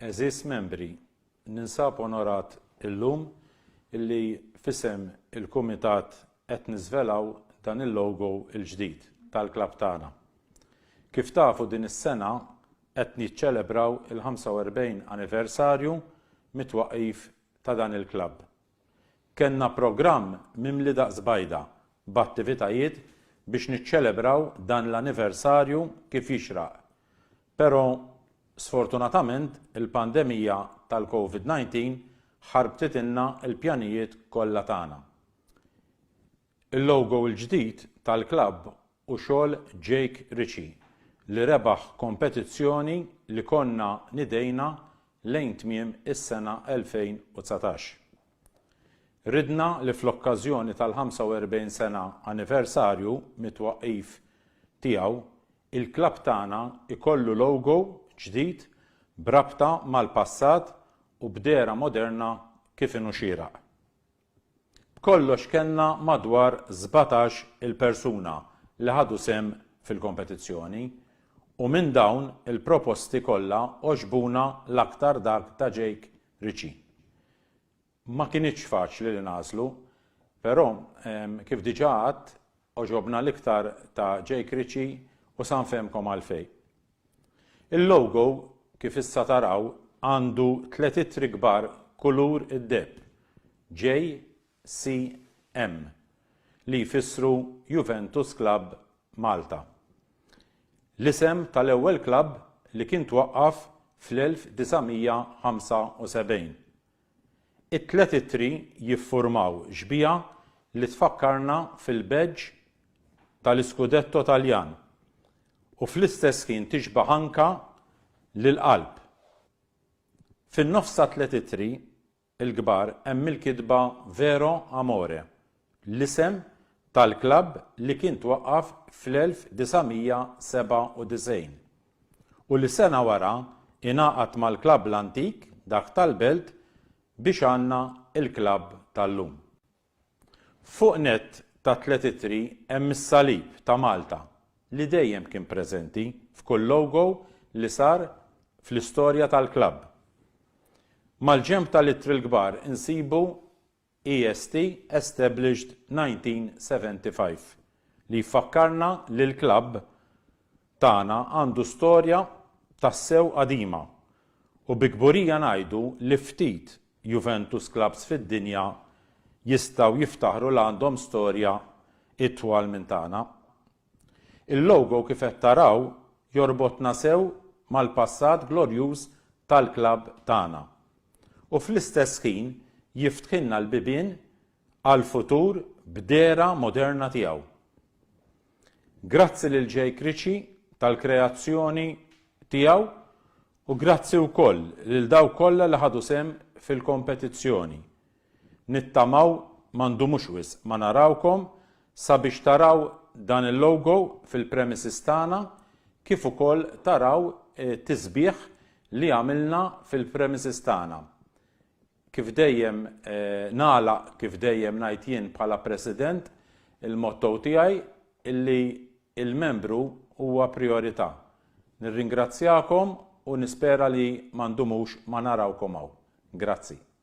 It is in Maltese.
Għeżież Membri, ninsab onorat illum li f'isem il-Kumitat qed niżvelaw dan il-logo l-ġdid tal-klabb tagħna. Kif tafu din is-sena qed niċċelebraw il-45 anniversarju mit-twaqqif ta' dan il-klabb. Kellna programm mimli daqs bajda b'attivitajiet biex niċċelebraw dan l-anniversarju kif jixraq, pero' sfortunatament il-pandemija tal-Covid 19 ħarbtitilna l-pjanijiet kollha tagħna. Il-logo l-ġdid tal-klabb u xogħol Jake Ritchie li rebaħ kompetizzjoni li konna nidejna lejn tmiem is-sena 2019. Ridna li fl-okkażjoni tal-45 sena anniversarju mit-twaqqif tiegħu, il-klabb tagħna jkollu logo ġdid b'rabta mal-passat u b'dehra moderna kif inhu xieraq. B'kollox kellna madwar sbatax il-persuna li ħadu sehem fil-kompetizzjoni u minn dawn il-proposti kollha għoġbuna l-aktar dak ta' Jake Ritchie. Ma kinitx faċli li nagħżlu, però kif diġà għadt għoġobna l-iktar ta' Jake Ritchie u sa nfehmkom għalfejn. Il-logo, kif issa taraw, għandu tliet ittri kbar kulur id-deheb, JCM, li jfissru Juventus Club Malta. L-isem tal-ewwel klabb li kien twaqqaf fl-1975. It-tliet ittri jiffurmaw xbieha li tfakkarna fil-badge tal-iskudetto Taljan u fl-istess ħin tixbah anka lill-qalb. Fin-nofs tat-tliet ittri l-kbar hemm il-kitba Vero Amore l-isem tal-klabb li kien twaqqaf fl-1997 u li sena wara ingħaqad mal-klabb l-antik, dak tal-Belt, biex għandna l-klabb tal-lum. Fuq nett tat-tliet ittri hemm is-salib ta' Malta li dejjem kien preżenti f'kull logo li sar fl-istorja tal-klabb. Mal-ġenb tal-ittri l-kbar insibu EST established 1975 li jfakkarna li l-klabb tagħna għandu storja tassew qadima u bi kburija ngħidu li ftit Juventus klabbs fid-dinja jistgħu jiftaħru li għandhom storja itwal minn tagħna. Il-logo kif qed taraw jorbotna sew mal-passat glorjuż tal-klabb tagħna u fl-istess ħin jiftħilna l-bibien għall-futur b'dehra moderna tiegħu. Grazzi lil Jake Ritchie tal-kreazzjoni tiegħu u grazzi wkoll lil dawk kollha li ħadu sehem fil-kompetizzjoni Nittamaw ma ndumux wisq ma narawkom sabiex taraw dan il-logo fil-premises tagħna kif ukoll taraw tisbiħ li għamilna fil-premises tagħna. Kif dejjem nagħlaq kif dejjem ngħid jien bħala President il-motto tiegħi illi il-membru huwa prijorità. Nirringrazzjakom u nispera li ma ndumux ma narawkom hawn. Grazzi.